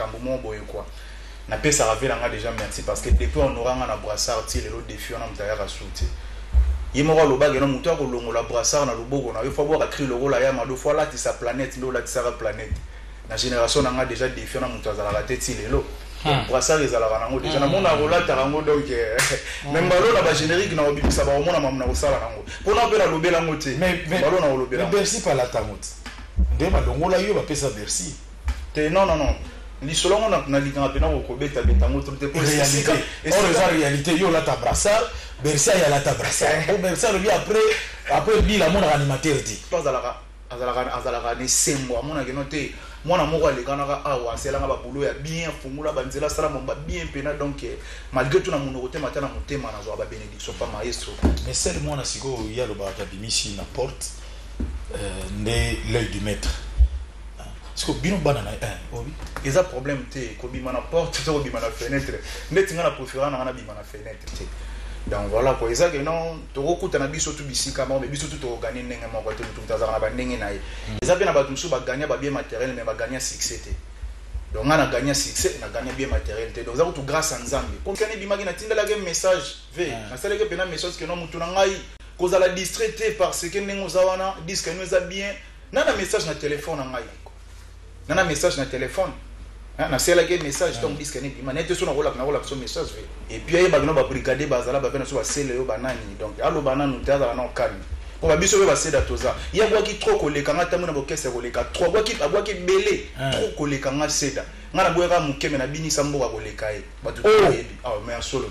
makambo moko boye kwa napesaka vela nga deja merci parce que depuis honora nga na brassard ti lelo defi wana moto ayaka su te ye moko alobaki no moto akolongola brassard na loboko na yo fo abwaka cri lokola ya mado fo alatisa planète nde olatisaka planète na génération na nga deja defi wana moto azalaka te ti lelo hmm. brassard ezalaka nango deja hmm. namona akolataka yango donc eh, hmm. me mbalo na bagénérique na kobimisa bakomona mamu na kosala nango mpo na mpe nalobela yango te mbalo na kolobela bersi palata yango te nde balongola yo bapesa bersi te non non non lisolo yango na- nalingaka mpena ko- kobetabeta yango trop te mpo esika- réalité or esika- eza réalité yo olata brassard bercy aye alata brassard Eh. po bercy alobi après après bila amonaka animateur te to azalaka azalaka azalaka na esengo amonaki no te mwana moko alekanaka awa aselanga babulo ya bien afungola banzela asala mambo ya bien mpena donc eh, malgré to na monoko te mata na motema nazwa babenediction pa maestro mais sel mwana sikoyo ye alobaka abimisi na porte euh, nde l'œil du maître siko bino bana na eh, obi eza problème te kobima na porte to kobima na fenêtre ndeti nga na préférant na nga nabima na fenêtre te donc voilà quoi eza ke non tokokuta na biso tu bisika moko mais biso tu tokoganye ndenge moko te motu motu azalaka na bandenge na ye hmm. eza mpe na bato mosusu baganya babie matériel mais baganya succès te donc nga na gagna succès na gagna bien matériel te donc eza kutu grâce ya nzambe konkani ebimaki natindalaki message ve hmm. nasalaki mpena message ke no motu na ngai kozala distrait te parce que ndenge oza wana diske no eza bien Nana message na telephone na ngai yeko. Nana message na telephone. Hein, na sela ke message donc disque ne bima nete sona kola na kola so message ve. Et puis ayeba bino ba brigadier bazala ba bana so ba sele yo banani donc alo bananu tazala na calme. Pour ba biso ba seda toza. Ya bwa ki trop koleka nga tamu na bokese koleka trop bwa ki abwa ki bele hein. trop koleka nga seda. Nga na bwa ka mukeme na bini sa mboka koleka ye. Batu oh. toyebi. Ah mais solo.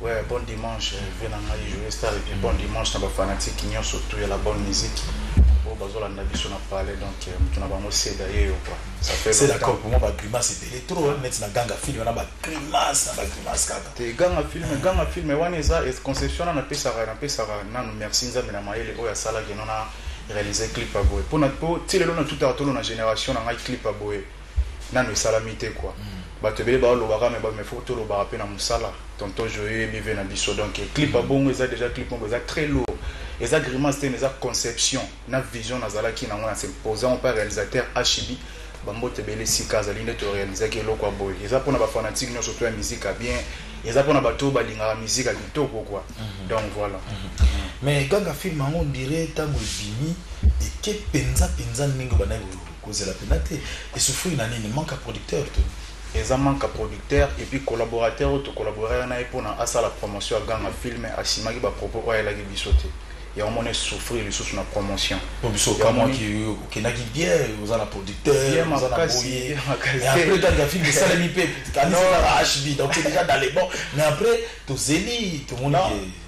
Ouais, bon dimanche, euh, vie na ngai joyeux star et puis bon dimanche na ba fanatiques nyonso tout ya la bonne musique. Oyo bazolanda biso na palais donc euh, moto na bango seda ye yo quoi. Ça fait C'est la longtemps. coque, moi, ma grimace était les trop, net na ganga film, on a ma grimace, na ma grimace, kaka. te ganga film ganga film wana eza es- conception wana napesaka napesaka nanu merci nzambe na mayele oyo asalaki no na réalise clip ya boye mpo na- mpo ti lelo na tutaka tolo na génération na ngai clip ya boye nanu esalami te quoi bato ebele balobaka mais ba mais faut tolobaka pe na musala tonton joyeux bive na biso donc eh, clip a bongo eza déjà clip moko eza très lourd eza grimace te mais eza conception na vision nazalaki nango na se posant pa réalisateur HB bambote ebele sika azali nde torealizaki eloko ya boye eza mpona bafanatike nyonso to ya miziki ya bien eza mpona bato oyo balingaka miziki ya kitoko kua mhm. donc voilà mhm. mais kaka filme yango ondire ntango ebimi eke mpenza mpenza ndenge bandaki Kozela pena te. E souffrir na nini? Manque ya producteur to? Eza manque ya producteur et puis collaborateur oyo to collaboraki na ye pona asala promotion ya Ganga film a simaki ba propos oyo ayelaki biso te. Yango omoni e souffrir lisusu na promotion. Po biso okamwaki yo okendaki bien oza na producteur Bien oza na makasi, boye bien makasi. mais après tangu ya film esalemi pe kanisa kaka HB donc c'est dejà dans les bons mais après tozeli tomoni Non. ke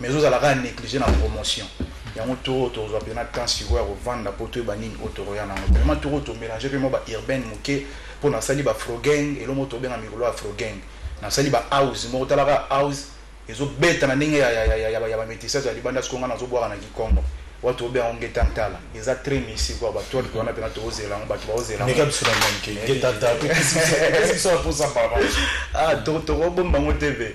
mais ozozala kaka néglige na promotion yango tour oyo tokozwa mpena temps sikoyo ya kovanda mpo toyeba nini oyo tokoya nango vraiment tour oyo tomélange mpe mwa ba urbaine moke mpo nasali ba frogang elo moko tobenga mikolo ya frogang nasali ba house moko talaka house ezobeta na ndenge ya bamétissage ya libanda siko ngai nazobwaka na kikongo watu tobe yango ngeta ntala eza très misi kwa bato watu wana mpena tokozela yango bato bakozela eh, eh, eh. ah, tokobomba yango te ve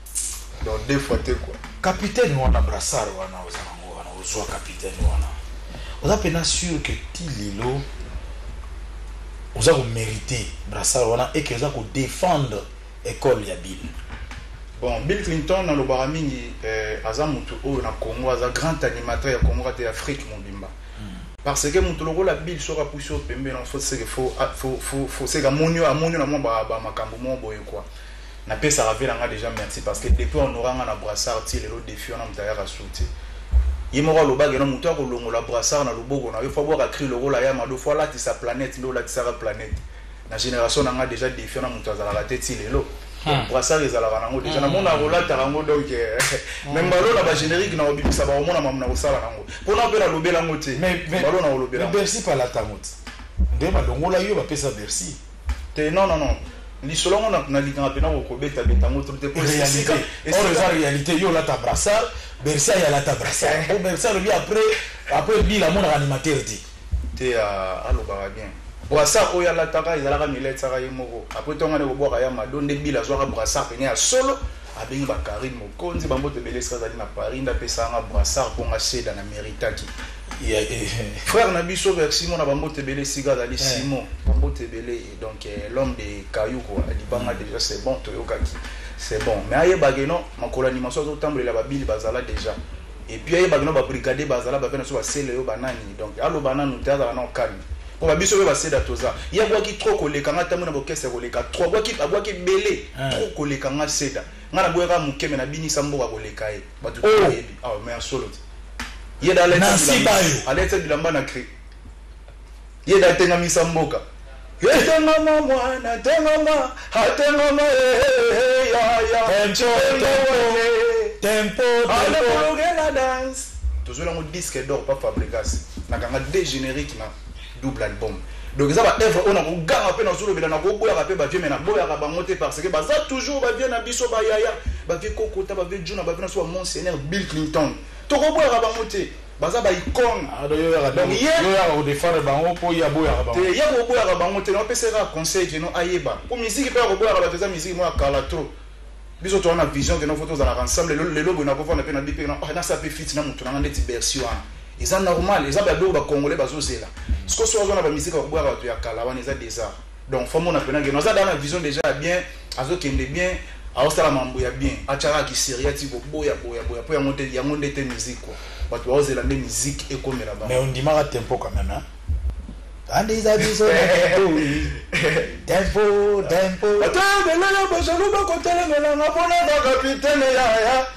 donc deux fois te quoi capitaine wana brassard wana oza nango wana ozwa capitaine wana oza mpena sur que ti lelo oza komerite brassard wana eke oza kodefendre ekole ya bill bon bill clinton nalobaka mingi eh, aza motu oyo na congo aza grand animateur ya congo ata ya afrique mobimba hmm. parce que motu lokola bill soki apusi yo pembeni foseka moni yo amoni yo na mwa bamakambo moko boye kua na pesaka vie na nga deja merci parce que depuis on aura nga na brassard ti lelo défi wana mutu ayaka su te ye moko alobaki no mutu akolongola brassard na loboko na yo fo abwaka cri lokola ya mado fo alatisa planète nde olatisaka planète na génération na nga deja défi wana mutu azalaka te ti lelo Hmm. brassard ezalaka nango deja hmm. namona akolataka yango donc eh, hmm. me mbalo na bagénérique na kobimisa bakomona mamu na kosala nango mpona mpe nalobela yango te mbalo na kolobela bercy palata yango te nde balongola yo bapesa bercy te non non non lisolo yango na- nalingaka mpena ko- kobetabeta yango trop te po esika- réalité or esika- eza réalité yo olata brassard bercy aye alata brassard po bercy alobi après après bila amonaka animateur te te ah, alobaka bien brassard oyo alataka ezalaka miletaka ye moko apres ntongo nde kobwaka ya mado nde bila azwaka brassard pene ya solo abengi ba Carine Mokonzi ba mbote ebele esika azali na Paris nda pesa nga brassard mpo nga seda na meritaki Yeah, eh, eh. frère na biso vers simon na bambote ebele esika azali Eh. simon bambote ebele et donc eh, l'homme de kayu kua libanga déjà c'est bon toyokaki c'est bon mais ayebake non makolo ya limaso azotambolela babili bazala déjà Et puis ayeba kino ba brigadier bazala bavia na biso basele yo banani donc aloba nanu te azala nao calme mpo ba biso mpe baseda toza ye abwaki trop koleka nga ntango na bokese ya koleka trop abwaki abwaki ebele eh. trop koleka nga seda nga naboyaka moke me nabinisa mboka koleka ye bato oh. toyebi awa ah, me ya solo te ye da alete bilamba na cri Ye nde atengamisa mboka. Etengama mwana etengama atengama ehehe ya ya tempo tempo tempo tempo la dance tozwi nango disque d'or pa fabricas nakanga de générique na double album donc eza baevre oyo nakoganga mpe nazolobela nakoboyaka mpe bavie me naboyaka bango te parce que baza toujours bavie na biso bayaya bavie kokota bavie juna bavie na so ba monseigneur bill clinton tokoboyaka bango te Baza ba icone Ah, donc yo oyaka Donc, te- ye- yo oyaka ko defendre bango po ye aboyaka bango. te ya koboyaka bango te naopesa ye kaka conseil keno ayeba mpo miziki mpe ya koboyaka bato eza miziki moko ya kala trop biso toza na vision keno fo tozalaka ensemble lelo lelo boye nakofanda mpe na bipe na ah, nasa mpe fiti na moto nanga ndeti bersi wana eza normal eza babiloko bacongolais bazozela sikoso azwa na bamiziki ya koboyaka bato ya kala wana eza desart donc fo mona pena geno aza da na vision deja ya bien azokende bien aosala mambo ya bien atiaka kiseria ti koboya boya boya mpo yango nde yango nde te musique kua bato baozela nde musique ekomela bango mais ondimaka tempo quand même hein? andisa biso na tempo tempo tempo ata belele bozolu bakotelemela nga mpo na bakapitene yaya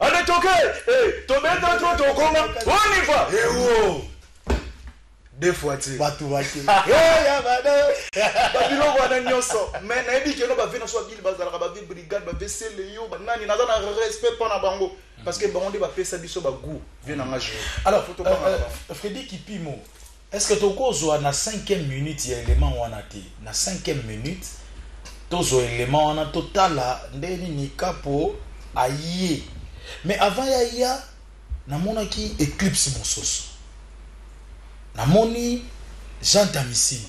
Allez toke eh tobeta to tokoma on y va eh oh deux fois ti bato bake eh ya bada babiloko wana nyonso mais nayebi keno bave na so babili bazalaka bave brigade bave seleyo banani naza na respect mpo na bango parce que bango nde bapesa biso bagout vie na nga jeu alors euh, euh, fredi kipimo Est-ce que toko zwa na cinquième minute ya element wana te? Na cinquième minute to zwa element wana to tala nde nini kapo aye. Mais avant ya ya na mona ki eclipse mososo. Na moni Jean Tamisini.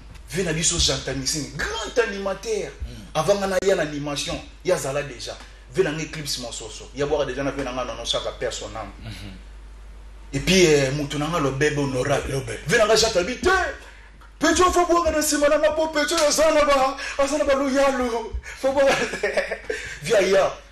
vie na biso jantamisini grand animateur avanga na ya na animation ya zala déjà vie na nga eclipse mososo ya bwaka déjà na vie na nga nono saka père son âme mhm. et puis euh, moto na nga lobebe honorable vie na nga jatabi te petio fo bwaka na nsima na nga po petio aza na ba aza na ba loyalo fo bwaka vie aya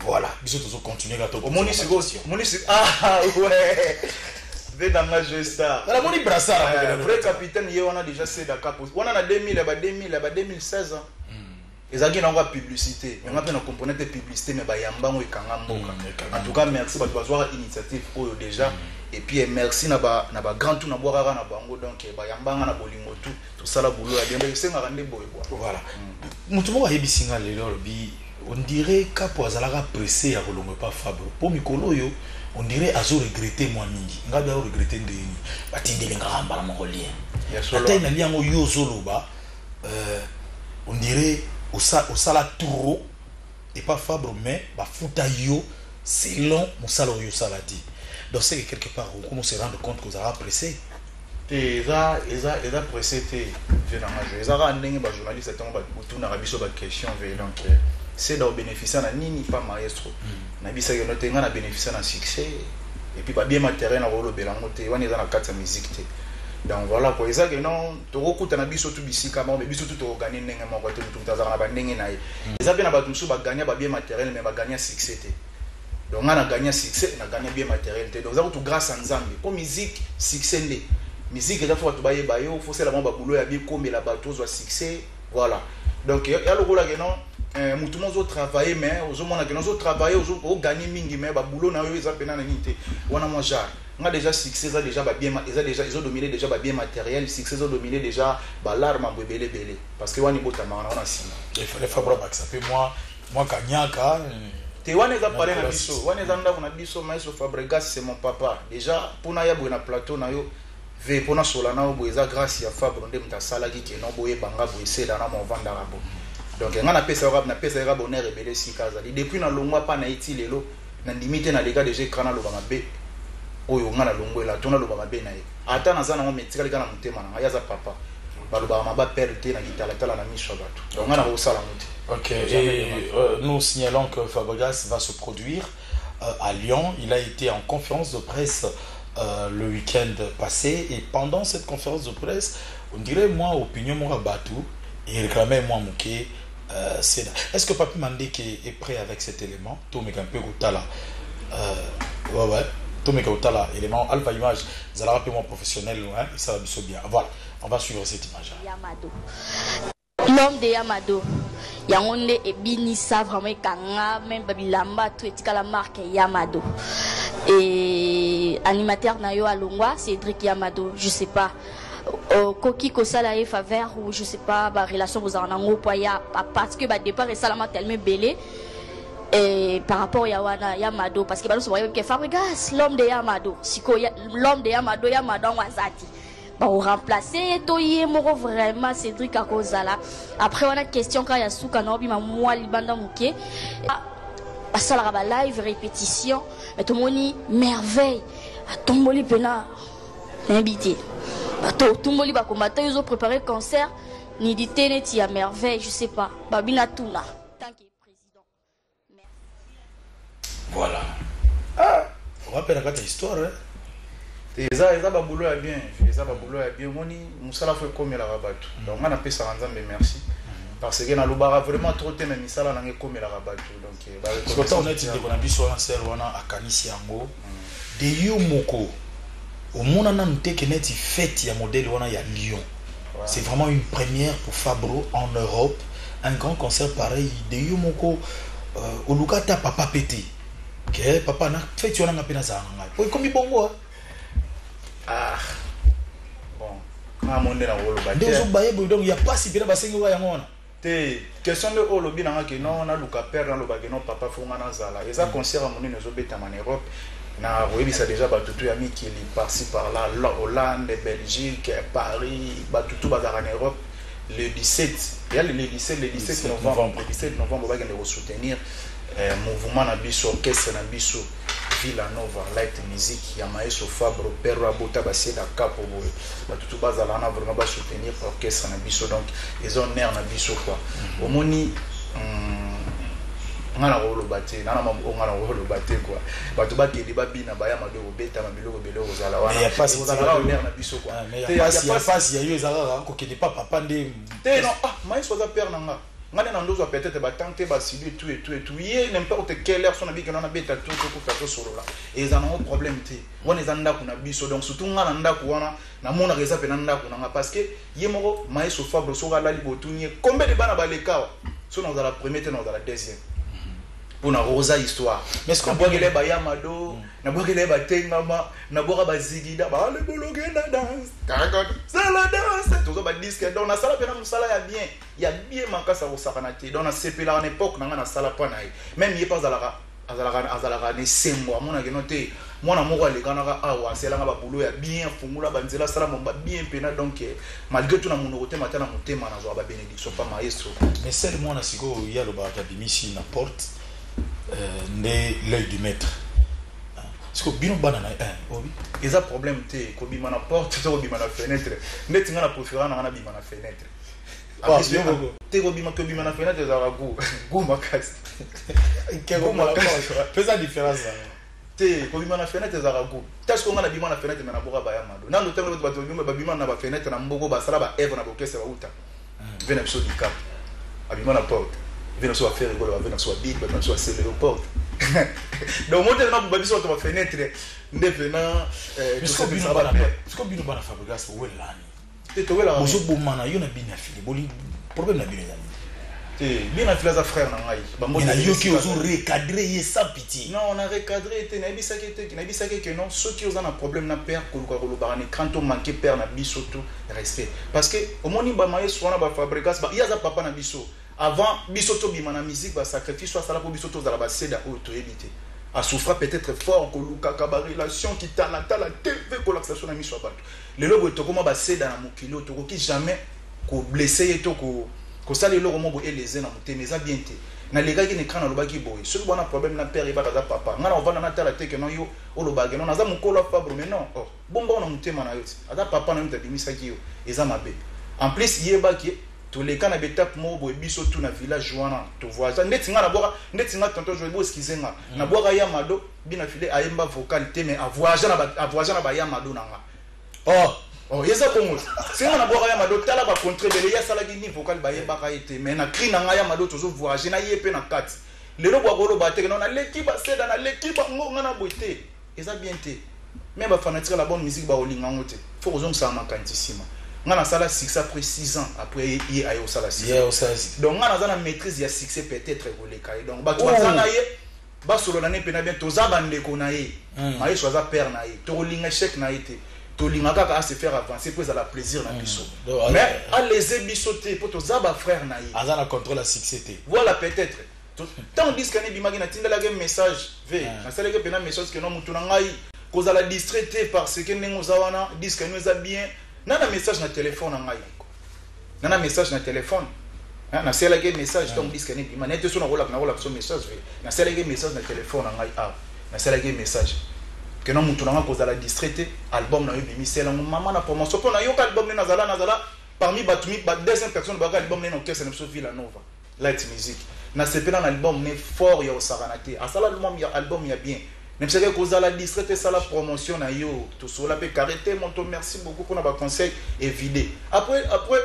Voilà. Biso tozo continuer ka to. Omoni siko. Omoni siko. Ah, ah ouais. vedanga joe star ala moni brassard eh, vrai capitaine ye wana déjà seda capo wana na 2000 ya ba 2000 ya ba 2016 ans ezalaki nango ya publicité me nga mpe na comprene te publicité me bayamba yango ekanga mboka mm, en tout cas merci bato bazwaka initiative oyo déjà mm. et puis eh, merci na ba na ba grand tout na bwa kaka na bango donc eh, bayamba nga na bolingo tout tosala boulot ya bien esengaka nde boye bwa voilà mm. moto moko ayebisi nga lelo alobi On dirait kapo azalaka presse ya kolongwa epa fabro po mikolo oyo on dirait azo regrette mwa mingi ngabi ao regrette ndenge nini batindeli ngaka mbala moko lien ata na lien yango yo ozoloba euh, on dirait osala trop epa fabro mais bafuta yo selon mosala oyo osala te donc seke quelque part okomi se rendre compte kozalaka presse te eza eza eza presse te vie na nga eza kaka ndenge ba journaliste tango batunaka biso ba question vie donc euh, seda obénéficia na nini pa maestro mm. nabisaki yono te nga na bénéficia na succès et puis babie matériel na kolobela yango te wana eza na kati ya musique te donc voilà quoi eza ke non tokokutana biso tu bisika moko me biso tu tokoganye ndenge moko te motu motu azalaka na bandenge na ye mm. eza mpe na bato mosusu baganya babie matériel me baganya succès te donc nga na gagna succès na gagna bien matériel te donc eza kutu grâce à nzambe mpo musique succès nde musique eza fo bato bayeba yo fo osala mwa babulo ya bikomela bato ozwa succès voilà donc ya lokola ke non eh, motu mo ozotravaille mais ozomona ke ozotravaille ogagne mingi mais babulo na yo eza mpena na nini te wana mwa genre nga déjà succès eza déjà babien eza déjà ezodomine déjà babien matériel succès ezodomine déjà balarme ambo ebele ebele parce que wana ebotamaka na wana nsima il fallait fabra bakisa mpe mwa Mwa kanyaka. Te wana eza palais na biso. Wana eza ndako na biso maestro Fabregas c'est mon papa. Déjà pona ya boye na plateau na yo ve pona sola na yo boye eza grâce ya Fabro nde muta salaki ke no boye banga boye sela na mo vanda rabo. Donc nga na pesa yo na pesa yo bonheur ebele sika azali. Depuis na longwa pa na iti lelo Na ndimi te na leka dejà ecran na loba mabe oyo nga na longwe la to na loba mabe na ye ata na za na ngo me etikali ka na motema na nga ye aza papa ba lobaka maba perdre te na kitala tala na miso ya batu donc nga na ko sala ngo te Ok, et euh, nous signalons que Fabregas va se produire euh, à Lyon. Il a été en conférence de presse euh, le week-end passé et pendant cette conférence de presse, on dirait moi, opinion moi Batou, il réclamait moi Mouké Ceda est ce que papy mandeke est pret avec cet element tomeka mpe kotala wewe tomeka kotala element alpha image ezalaka mpe mwa professionnel esala biso bien voilà on va suivre cette image l'homme de yamado yango nde ebinisa vraiment ekanga meme babilamba to etikala marque yamado et animateur na yo alongwa cedric yamado je sais pas okoki kosala ye faveur ou je sais pas ba relation bozala nango po ya parce que ba départ esalama tellement ebele Et par rapport ya wana ya mado parce que baloso bayebi ke fabrigas l'homme de ya mado sikoyo l'homme de ya mado ya mado yango aza te baoremplace ye to ye moko vraiment cédrik akozala après wana question kaka ya suka na obima mwa libanda moke basalaka balive répétition mais tomoni merveille atomboli mpena nayebi te bato otumboli bakombata yo ozoprépare concert nidite neti ya merveille je sais pas babi natuna voilà ah, wape na kati ya histoire eh? eza eza babulo ya bien eza babulo ya bien omoni mosala fo ekomelaka bato mm. donc nga napesaka nzambe merci mm. parce que nalobaka vraiment trop te na misala nanga ekomelaka bato donc eh, na biso wana sere wana akanisi yango De yo moko omona nanu te ke neti fete ya modèle wana ya Lyon c'est vraiment une première pour Fabro en Europe un grand concert pareil de yo moko euh, oluka ata papa pe te ke papa na fete wana nga pe nazala na ngai po ekomi bongo hein? ah bon nga monde na koloba te nde ozobaye boye donc ya pasi pena basengi oka yango wana Te question nde oyo olobi na nga ke non naluka père naloba ke non papa fo nga nazala eza concert ya monene ezobetama na Europe na koyebisa deja batutu ya mikili parci par là Hollande Belgique Paris batutu bazalaka na Europe le 17 ya le 17 le 17 novembre le 17 novembre bakende ko soutenir eh, mouvement na biso orchestre na biso Villa Nova light musique ya maestro Fabro Perro abota basie da capo boye bato tu bazala wana vraiment ba soutenir orchestre na biso donc eza honneur na biso quoi mhm. omoni hmm, nga na koloba te nana maboko nga na koloba te quoi bato bakende babina baya mabe kobetama biloko ebele kozala wanaozalaka honneur na biso quoi ah, ya pasi ya yo ezalaka kokende pa papa nde te non ah maestro aza père na nga Nga nde na ndozo ya peut-etre ba tante ba sibi et tout et tout et tout ye n'importe quelle heure son na biki na beta tout tout kufa to solola eza na ngo problème te wana eza ndaku na biso donc surtout nga na ndaku wana na mona reza pe na ndaku na nga parce que ye moko maestro Fabro soka lali botuni combien de bana balekawa so na la première te na la deuxième pour na rosa histoire mais ce qu'on voit les bayamado mm. na boki les batengama na boka bazigida ba le bologue na danse caracol c'est la danse tous ba disque donc na sala pe na musala ya bien ya bien makasi akosakana te donc nasepelaka na epoque na ngai nasala mpa na ye meme ye mpe azalaka azalaka azalaka na esengo amonake no te mwana moko alekanaka awa aselanga babulo ya bien afungola banzela asala momba bien mpena donc eh, malgré to na monoko te mata na motema nazwaka babenediction mpa maestro mais sele mwana sikoyo ye alobaka abimisi na porte euh, nde l'œil du maître siko bino bana na ye eh, obi eza problème te kobima na porte to kobima na fenêtre ndeti ngai na profera na ngai nabima na fenêtre te kobima kobima na fenetre ezalaka gu gu makasi gu makasi pesa différence na te kobima na fenetre ezalaka gu tasi ko ngai nabima na fenetre me naboka baya mado nano ntango lobi bato babima na bafenetre na mboko basala baevre na bokese bauta ve na biso dikap abima na porte ve na biso bafere ekolo bave na biso babili bato na biso baselelo porte donc motelema buba biso bato bafenetre nde pena biso bino bana fabrigas owelelani bozo bomana yo na bien ya fili bolingi problème na bino eza nini te bien na fili aza frère na ngai bango na yoki ozo recadrer ye sans pitié non on a recadrer te na ebisaki te na ebisaki que non ceux qui oza na problème na père koluka kolobaka na écran to manquer père na biso tout respect parce que omoni ba maestro wana ba fabricas ba yaza papa na biso avant biso to bima na musique ba sacrifice soit sala ko biso to zala ba seda oyo to yebite a souffra peut-être fort kolukaka ba relation qui tala tala TV kolakisa so na miso ya bato Lelo boye tokoma ba seda na mokili oyo tokoki jamais ko blesser ye to ko kosala eloko moko boye eleze na motema eza bien te nalekaki na ekran nalobaki boye soki bwana problème na père yebaka aza papa ngai na ovanda natala te ke non yo olobaka non naza mokolo ya fabre mais non oh, bomba ona motema na yo ti aza papa na yo moto abimisaki yo eza mabe en plus yeba ke toleka na betape moko boye biso tu na village wana tovoisa ndeti ngai nabwaka ndeti ngai tonton joe boskize ngai mm. nabwaka ya mado Bina file ayemba vocal te mais avoyage na avoyage na baya mado na nga oh oh yeza bongo senga na bwaka ya mado tala ba contre bele ya sala ni vocal ba yemba ka ete mais na cri na nga ya mado tozo voyage na yepe na kat lelo bwa golo ba teke na leki ba seda na leki ba ngo nga na boite eza bien te mais ba fanatique la bonne musique ba olinga ngo te faut kozong sa makanti sima nga na sala succès après 6 ans après ye ayo sala succès donc nga na za na maîtrise ya succès peut-être koleka donc ba tu oh. za na ye Ba solola ne pena bien toza ba ndeko na ye hmm. Maestro aza père na ye toko linga échec na ye te tolinga kaka a se faire avancer mpo ezala plaisir na hmm. biso hmm. mais alese biso te mpo toza ba frère na ye aza na contrôle ya succès te voilà peut-être ntango diske ane ebimaki natindalaki message ve nasalaki mpena message keno motu na ngai kozala distrait te parce que ndenge oza wana diske ane eza bien na na message na telefone na ngai nga na message na telefone hein, nasalaki ye message ntango diske na ebima naye te so nakolaka nakolaka so message ve nasalaki ye message na telefone na ngai awa nasalaki ye message ke na motu na ngai kozala distrait te album na yo ebimisela yango mama na promotion mpo nayoka album ne nazala nazala parmi bato mi ba deuxième personne bayaka album ne na orchestre na biso villa nova Light music na sepela na album ne fort ya osakana te asala album ya album ya bien Nabisaka kozala distrait te sala promotion na yo tosola pe carré te moto merci beaucoup pona ba conseil evide après après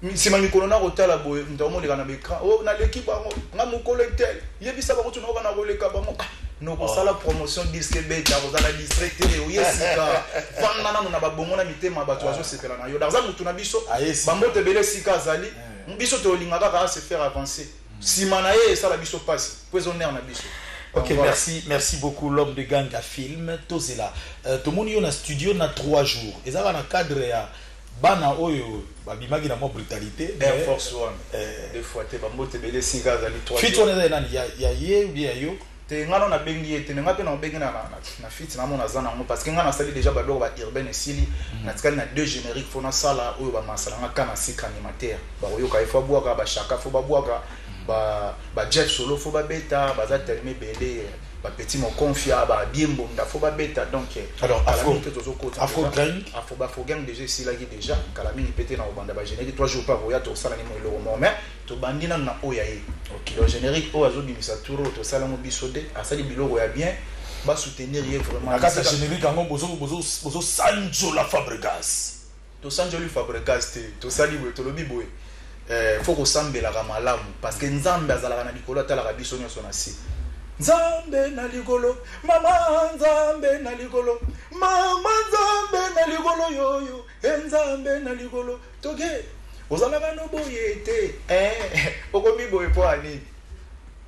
nsima mikolo na kotala boye moto akomoleka na baecran o oh, naleki bango nga mokolo etel yebisa bango tuna oka na koleka bango ah, nokosala oh. promotion diske beta kozala distre te oye sika fanda nano na babongo na mitema bato ah. bazosepela na yo daza motu na biso bambote ebele sika azali eh. Biso tolinga kaka a se faire avancer. Sima na ye esala biso pasi. Po ezo nerf na biso. Ok, voilà. merci, merci beaucoup l'homme de Ganga Film. Tozela, euh, tomoni yo na studio na 3 jours. Ezaka na cadre ya bana oyo babimaki na mwa brutalité. Air Force One. Euh, Deux fois te bambote bele sika azali 3 jours. Fit wana eza ya nani? Ya ya ye ou bien ya yo? Te nga no na bengi ye te me nga pe na obengi na na na fit na mona za na ngo parce que nga na sali dejà ba biloko ba urbaine esili mhm. na tikali na deux génériques faut na sala oyo ba masala nga kana sika animateur ba oyoka il faut boaka ba chaka faut ba boaka mhm. ba ba Jeff solo faut ba beta ba za tellement belé ba petit mon confia ba bien bonda faut ba beta donc eh, alors afro que tozo kota afro gang afro ba afro gang déjà esila ki déjà kala mingi pete na obanda ba générique trois jours par oya to sala ni mo eloko mais Tobandi nanu na oyo ya ye. Donc generique oyo azo bimisa tour oyo tosala yango biso te. Asali biloko ya bien. Ba soutenir ye vraiment. Na kati ya generique yango bozo bozo bozo sanjola Fabregas. To sanjoli Fabregas te. Tosali boye tolobi boye eh faut ko sambelaka malamu parce que Nzambe azalaka na likolo atalaka biso nionso na se. Nzambe na likolo mama Nzambe na likolo mama Nzambe na likolo yo yo eh Nzambe na likolo. Toge ozalaka no boye te eh, okomi boye mpo ya nini?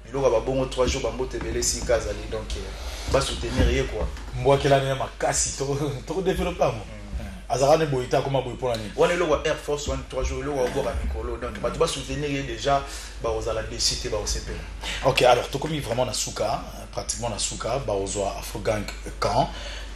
biloko ya babongo 3 jours bambote ebele esika azali donc eh, basoutenir ye kua mbwakelani ya makasi tokodevelope yango hmm. azalaka ne boye te akoma boye mpona nini wana eloko air force wana 3 jours eloko akoboka mikolo donc bato basoutenir ye déjà bakozala desi te bakosepela ok alors tokomi vraiment na suka Pratiquement na suka bakozwa Afrogank quand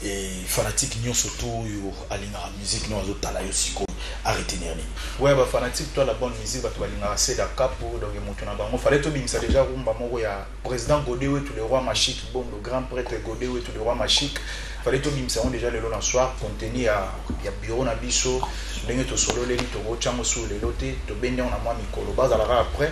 et fanatique nionso to oyo alingaka musique no azo tala yo sikoyo a retenir nini? Ouais ba fanatique toi la bonne musique batu balingaka seda kapo donc mutu na bango fallait to bimisa dejà rumba moko ya president gode wetu le roi machique bondo grand pretre gode wetu le roi machique fallait to bimisa yango dejà lelo na soir contenu ya ya bureau na biso ndenge to sololeli toko tiango sur lelo te to bendi yango na mwa mikolo bazala kaka près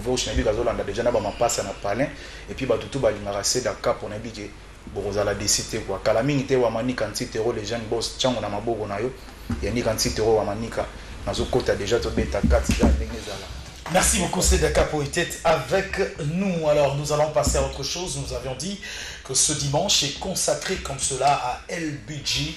Voice nayebi ke azolanda dejà naba mapasa na palin et puis batu tout balingaka seda kapo nayebi ke bokozala deçu te quoi kala mingi te wamanika ntitero le jeune boss tshangu na maboko nayo yanika ntitero wamanika nazo kota dejà tobeta kati ga ndenge ezala. Merci beaucoup Seda Kapo était avec nous. Alors nous allons passer à autre chose. Nous avions dit que ce dimanche est consacré comme cela à El Budji.